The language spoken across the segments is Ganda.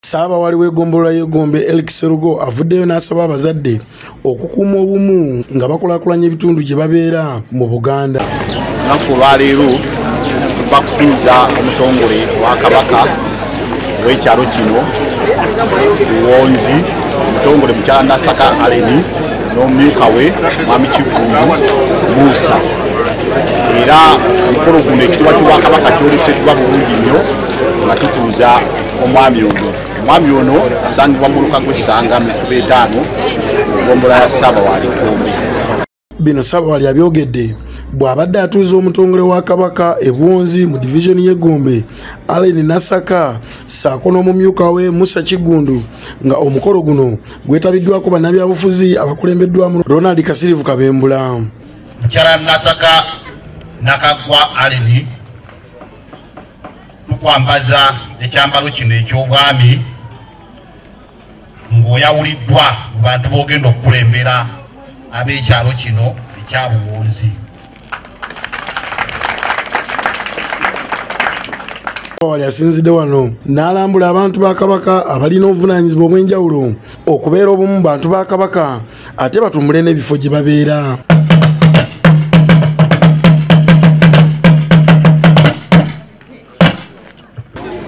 ssaabawali w'egombolola y'egombe elk serugo avuddeyo n'asaba abazadde okukuuma obumu nga bakulakulanya ebitundu gye babeera mu buganda lunaku olwaleero bakutuuza omutongole wa kabaka ow'ekyalo kino luwonzi omutongole mukyala nasaka aleni n'omumyuka we mwami kiggundu muusa era omukolo guno ekitibwa kibwakabaka kyoleseddwa bulungi nnyo nga tutuuza omwami ono omwami ono asangibwa mu luka gw'essanga mu kuba etaano egombola ya saaba wa likumbi bino sabawali abyogedde bw'abadde atuuza omutongole wa kabaka ebwonzi mu divizoni y'egombe allen nasaka saako n'omumyuka we musa kigundu nga omukolo guno gwetabiddwako bannabyabufuzi abakulembeddwamu ronald kasirivu kabembula mukyala nasaka nakaggwa aleni tukwambaza ekyambalo kino eky'obwami ng'oyawuliddwa mu bantu b'ogenda okukulembera ab'ekyalo kino ekya buwunzi wali asinzidde wano n'alambula abantu ba kabaka abalina obuvunanyizibwa obw'enjawulo okubeera obumu bantu ba kabaka ate batumbule n'ebifo gye babeera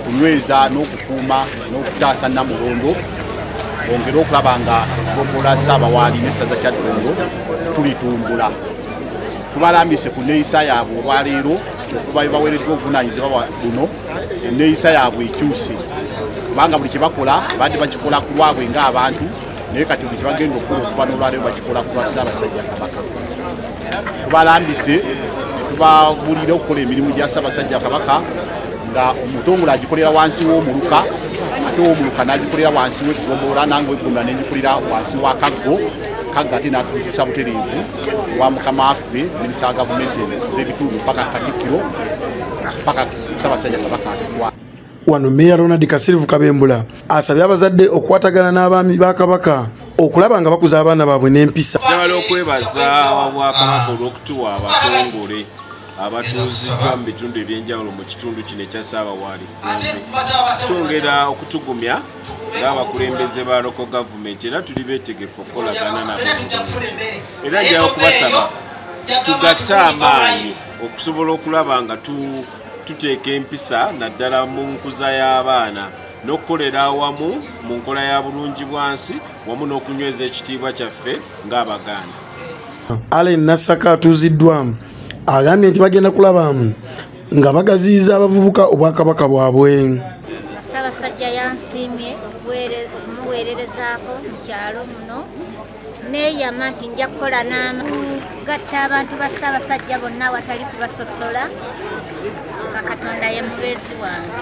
okunyweza n'okukuuma n'okutaasa namulondo ongere okulaba nga gogola saabawaali n'essaza kya ddondo tulitumbula tubalambise ku neeyisa yaabwe olwaleero okuba baweereddwa obuvunanyizibwa bwa buno eneeyisa yaabwe ekyuse kubanga buli kye bakola badde bakikola ku lwabwe ng'abantu naye kati buli kibagenda okukula okuba nolwaleo bakikola kuba ssaabasajja kabaka tubalambise netubabulira okukola emirimu gya ssaabasajja kabaka nga omutongole agikolera wansi w'omuluka ate owomuluka n'agikolera wansi w'eggombola nange eggombola nengikolera wansi wa kaggo kagga ate natuusa butereevu wa mukama waffe minisa wa gavumenti z'ebitundu paka katikkiro paka ssaabasajja kabaka atukwa wano meeya ronald kasirivu kabembula asabye abazadde okukwatagana n'abaami ba kabaka okulaba nga bakuza abaana baabwe n'empisa jagala okwebaza wabwakabaka olw'okutuwa abatongole abatuuziddwa mu bitundu ebyenjawulo mu kitundu kino ekya saabawaali twongera okutugumya ng'abakulembeze ba loko gavumenti era tuli beetegefu okukolagana nabo era njawo kubasaba tugatte amaanyi okusobola okulaba nga tu tuteeka empisa naddala mu nkuza y'abaana n'okukolera awamu mu nkola ya bulungi bwansi wamu n'okunyweza ekitiibwa kyaffe ng'abaganda allen nasaka atuuziddwamu agambye nti bagenda kulabamu nga bagaziyiza abavubuka obwakabaka bwabwe ssaabasajja yansiimye okumuweererezaako mu kyalo muno neyama nti nja kukola n'amgatta abantu ba ssaabasajja bonna awatali kubasosola nga katonda ye mubeezi wange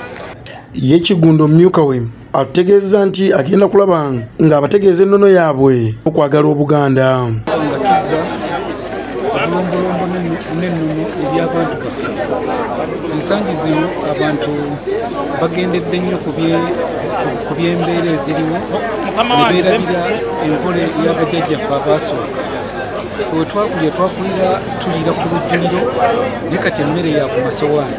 ye kigundo mumyuka we atutegeeza nti agenda kulaba ng'abategeeza ennono yaabwe okwagala obuganda nga tuzza obulombolombo n'ennono eby'abantu baffe ensangi zino abantu bagendedde nnyo ku by'embeera eziriwo nebeerabira enkola ey'abajajjaffe abaasooka twetwakulya twakulira tuliira ku lujjuliro ne kati emmere yaku masowaani